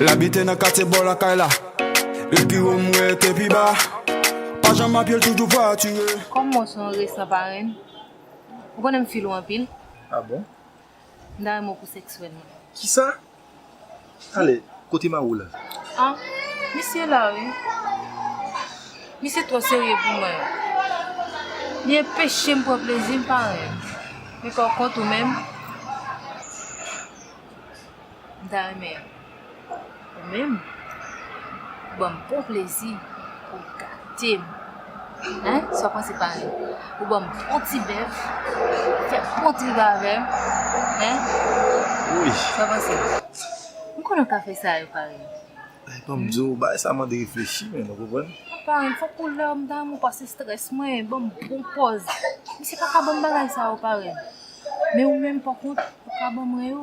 L abite nan katye bò lakay la E pi wo m wè te pi ba Pa janm ap ye l toujou vwatire Kòm mwen son resan parenn, ou konnen m fil ou anpil. Ah bon? M ta renmen w pou sèkswèlman. Kisa? Talè, kote Mawou la? Ah, misye la wi. Misye twò serye pou mwen. Li enpeche m pran plezi m pa renmen. Men pòkont ou menm, m ta renmen ou menm ban m bon plezi pou w gate m. Hein sa w panse pa li ou banm on ti bèf fè on trip avèm hein Wouyy sa w panse m konnen w ka fè sa yo parenn. Anh banm di w bagay sa mande reflechi menn ou konprann. Anh parenn fòk ou lè w m damou pase strès mwen banm bon pòz misye paka banm bagay sa yo parenn men ou menm pa kont ou ka ban mwen yo.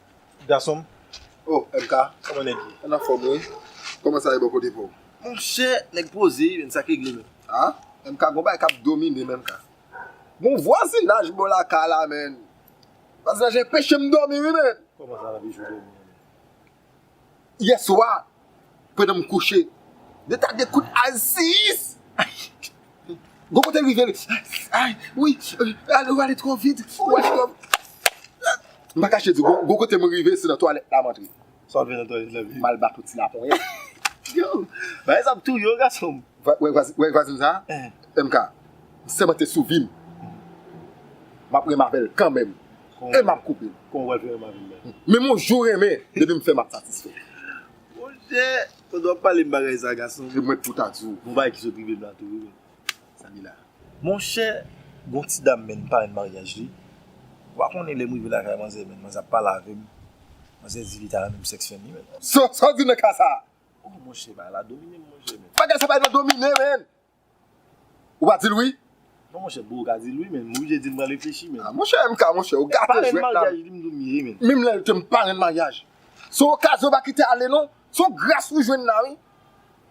Gason m Oh MK kòman nèg ye? An anfòm wi. Kòman sa ye bò kote pa w? Monchè nèg poze menn sa k regle menn? Ah MK gon bagay k ap domine m MK. Gon vwazinaj bò lakay la menn. Vwazinaj la enpeche m dòmi wi menn. Kòman sa la bijou dòmi an menn? yè swa pandan m kouche. Yo ta de kout azis. Gon kote l rive l. Ay wi ale w ale twò vit. M pa kache di w gon kote m rive se nan twalèt la m antre. Sa w fè nan twalèt la menm? M al bato ti laponyèt. Yo! Bagay sa ap touye w gason m. Wè vwazin sa a MK m sèmante sou vim m ap renmen avè l kanmenm e m ap koupe l kòman w pral fè renmen avè m menm menm yon jou renmen depi m fè m ap satisfè monchè ou t wap pale m bagay sa a gason m e mwen pou ta di w yon bagay ki sot rive m la tou wi Samina monchè gon ti dam menn parenn maryaj li ou pa konnen lè m rive lakay manzè menn manzè ap pale avè m manzè di li ta renmen m sèks fèm li menn. Sa w di nan ka sa a Oh monche bagay la dominem monche menn. Bagay sa bay nan domine menn. Ou pa dil wi. Non monche bro ou ka dil wi menn m oblije dil m pral reflechi menn. Ah monche MK monche ou gate jwet la. Parenn maryaj li m dou m ye menn. Menm lè l te m parenn maryaj. Se yon okazyon ou pa kite ale non. Se yon gras ou jwenn la wi.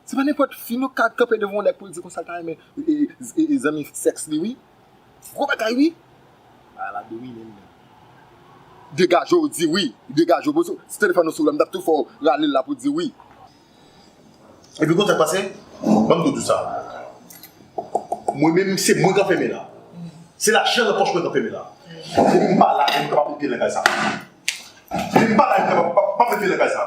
Se pa nenpòt fi nou ka kanpe devan yon nèg pou l di konsa l ta renmen zanmi sèks li wi. Gwo bagay wi. Bagay la domine m menm. Degaje w di wi. Degaje w bozo. Si telefone w sou la m tap tou fè w rale l la pou w di wi. Li pi kontan pase banm doudou sa. Mwen menm se mwen k anfème la. Se lajan nan pòch mwen k anfème la. Depi m pa la e m kapab met pye nan kay sa. Depi m pa la e m kapab pa met pye nan kay sa.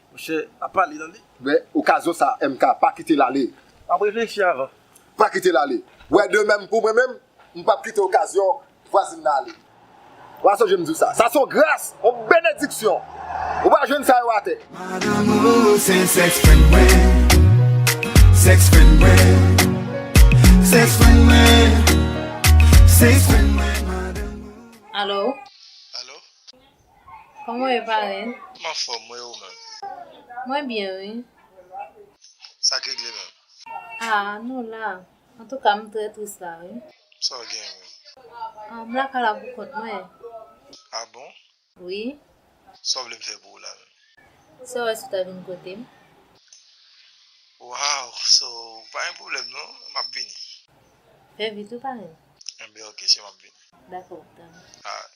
Monchè, pa pale nan li. Men, okazyon sa a MK, pa kite l ale. M ap reflechi avan. Pa kite l ale. Wè de menm pou mwen menm, m p ap kite okazyon vwazin nan ale. W a sonje m di w sa. Sa se yon gras, yon benediksyon. Ou pa jwenn sa yo atè. Madanm ou se sèks fren mwen. Sèks fren mwen. Sèks fren mwen. Sèks fren mwen, madanm ou. Alo? Alo? Kòman w ye parenn? M anfòm wi e ou menm? Mwen byen wi. Sa k regle menm? A nou la. Antouka m trè tris la wi. Sa w gen menm? M lakay la pou kont mwen. A bon? Wi. Sa w vle m fè pou ou la menm? Sa w wè si w ta vin kote m? Waw so pa gen pwoblèm non m ap vini. Fè vit wi parenn. Enben ok cheri m ap vini. Dakò m ta vini. Alright.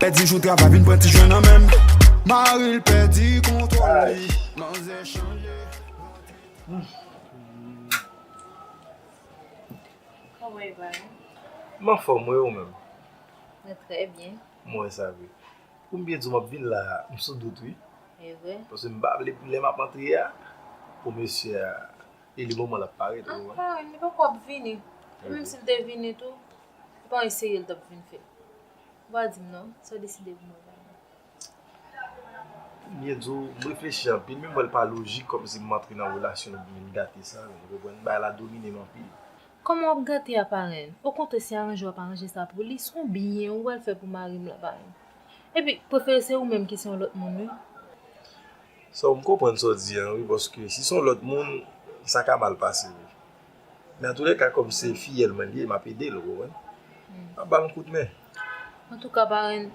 Pèdi jou travay vin pran ti jwè nan menm. Mari l pèdi kontwòl li, manzè chanje. Koman e va? M anfòm wi, e ou menm? Mwen trè byen. M wè sa vre. Pou m byen di w m ap vin la a, m sou dout wi. E vre? Paske m pa vle pou lè m ap antre a, pou mesye a e li moman l ap parèt ou wè. Anfin, li poko ap vini. E menm si l te vini tou, se pa yon eseye l t ap vin fè. Wap dim non, sa w deside pou mwen zanmi. Ou byen di w, m reflechi anpil men m wè l pa lojik kòmsi m antre nan relasyon nou byen gate sa, ou konprann, bagay la domine m anpil. Kòman wap gate a parenn? Okontrè si aranje wap aranje sa pou li, son byen ou pral fè pou mari m lan parenn. Epi, prefere se ou menm ki se yon lòt moun wi. Sa w, m konprann sa w di an wi paske si son lòt moun, sa ka mal pase wi. Men antoulèka kòm se fiyèl mwen li ye map edel ou konprann map bal yon kout men. Antouka parenn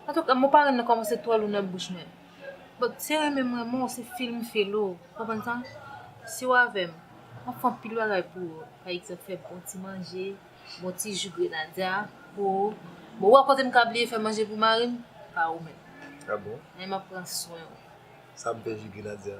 antouka mo parenn nan kòmanse twò lou nan bouch mwen but se renmen m renmen w se feel m feel ou konprann sa si w avèm map fè anpil bagay pou ou pa egzanp fè bon ti manje bon ti ju grenadya pou ou bon ou wè kote m ka bliye fè manje pou mari m pa ou menm ah bon men map pran swen w sa m fè ju grenadya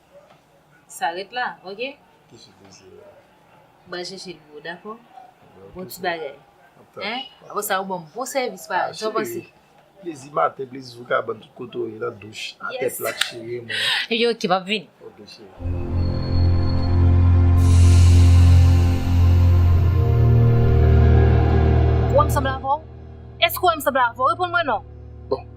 Sa ret la, ok? Ki chif li se la? Ba jèchè li yo, dakò? Bon ti bagay. Hein? Apre sa ou ban m bon sèvis paran, sa w panse? Plezi maten, plezi sou kabann, tout kote ou ye, nan douch, atè plat cheri mwen. Epi ok, m ap vini. Ok cheri. Ou wè m sanble avè w? Èske ou wè m sanble avè w? Reponn mwen non! Bon,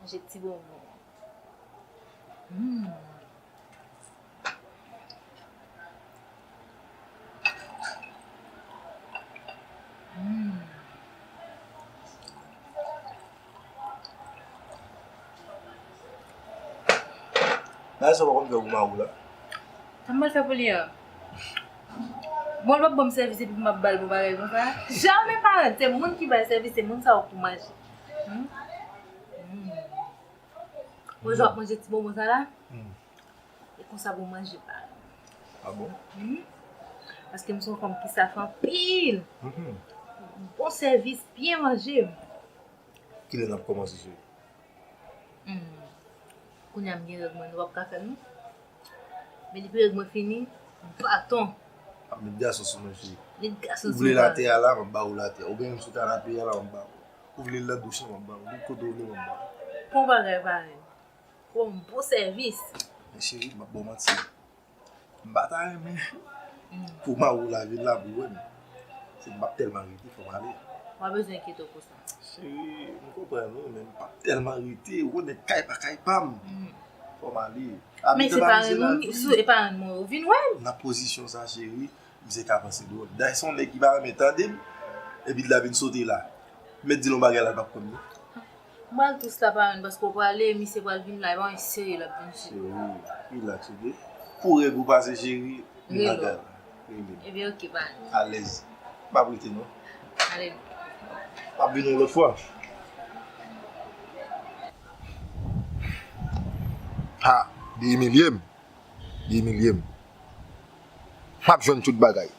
Manje ti bonbon an. Humm. Humm. Bagay sa ou pa konn fè pou mari w la? Sa m pral fè pou li an? Bon l pap banm sèvis epi m ap ba l bon bagay konsa? Jamè pa! Se moun ki ba l sèvis se moun sa ou pou manje. Mwen jan ap manje ti bonbon sa la, e konsa pou manje pa. A bon? Paske m son fanm ki saf anpil. Bon sèvis, byen manje. Ki lè nap kòmanse sou? Kounya m gen règ mwen, nou pap ka fè l non. Medi pirèg mwen fini baton. Ap met gason sou mwen cheri. Met gason sou mwen. Ou vle latè a la map ba ou latè. Ou vle l sou kanape a la map ba ou. Ou vle l nan douch lan map ba ou. Tout kote ou vle map ba ou. Bon bagay parenn. Bon bon sèvis. Men cheri map ba ou manti. M pa ta renmen pou ma ou lavi la pou wè m. Se m pap tèlman rete fò m ale. M pa bezwen enkyete w pou sa. Cheri m konprann ou men m pap tèlman rete ou konn kay pa kay pa m fò m ale. Men se parenn ou m sou e parenn mwen ou vin wè m. Nan pozisyon sa cheri misye ka panse dwòl. Dayè se yon nèg ki pa renmen tande m epi l ta vin sote la. M mèt di l yon bagay la l pap konn non. M pral tris la parenn paske w prale misye pral vin la e pa yon seri l ap vin. Cheri rilaks ok. Pou règ ou pase cheri m nan kay la. Rele m. Ebyen ok baz. Alèz. M pap rete non. Ale m. M ap vini yon lòt fwa. Ha! Li imilye m. Li imilye m. M ap jwenn tout bagay.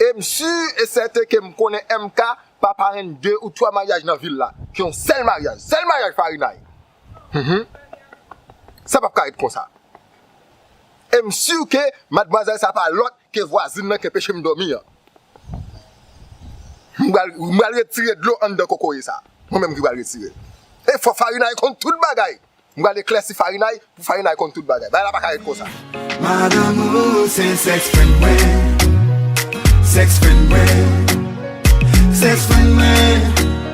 E m si e sèten ke m konnen MK pa parenn de ou twa maryaj nan vil la. Ke yon sèl maryaj. Sèl maryaj Farinay. Hum hum. Sa pap ka ret konsa. Em sur ke madmwazèl sa pa lòt ke vwazin lan ke pechem dòmi an. M pral m pral retire dlo anndan kokoye sa. Mwen menm ki pral retirel. E fò farinay konn tout bagay. M pral eklèsi farinay pou farinay konn tout bagay. Bagay la paka ret konsa. Madanm ou se sèks fren mwen Sèks fren mwen Sèks fren mwen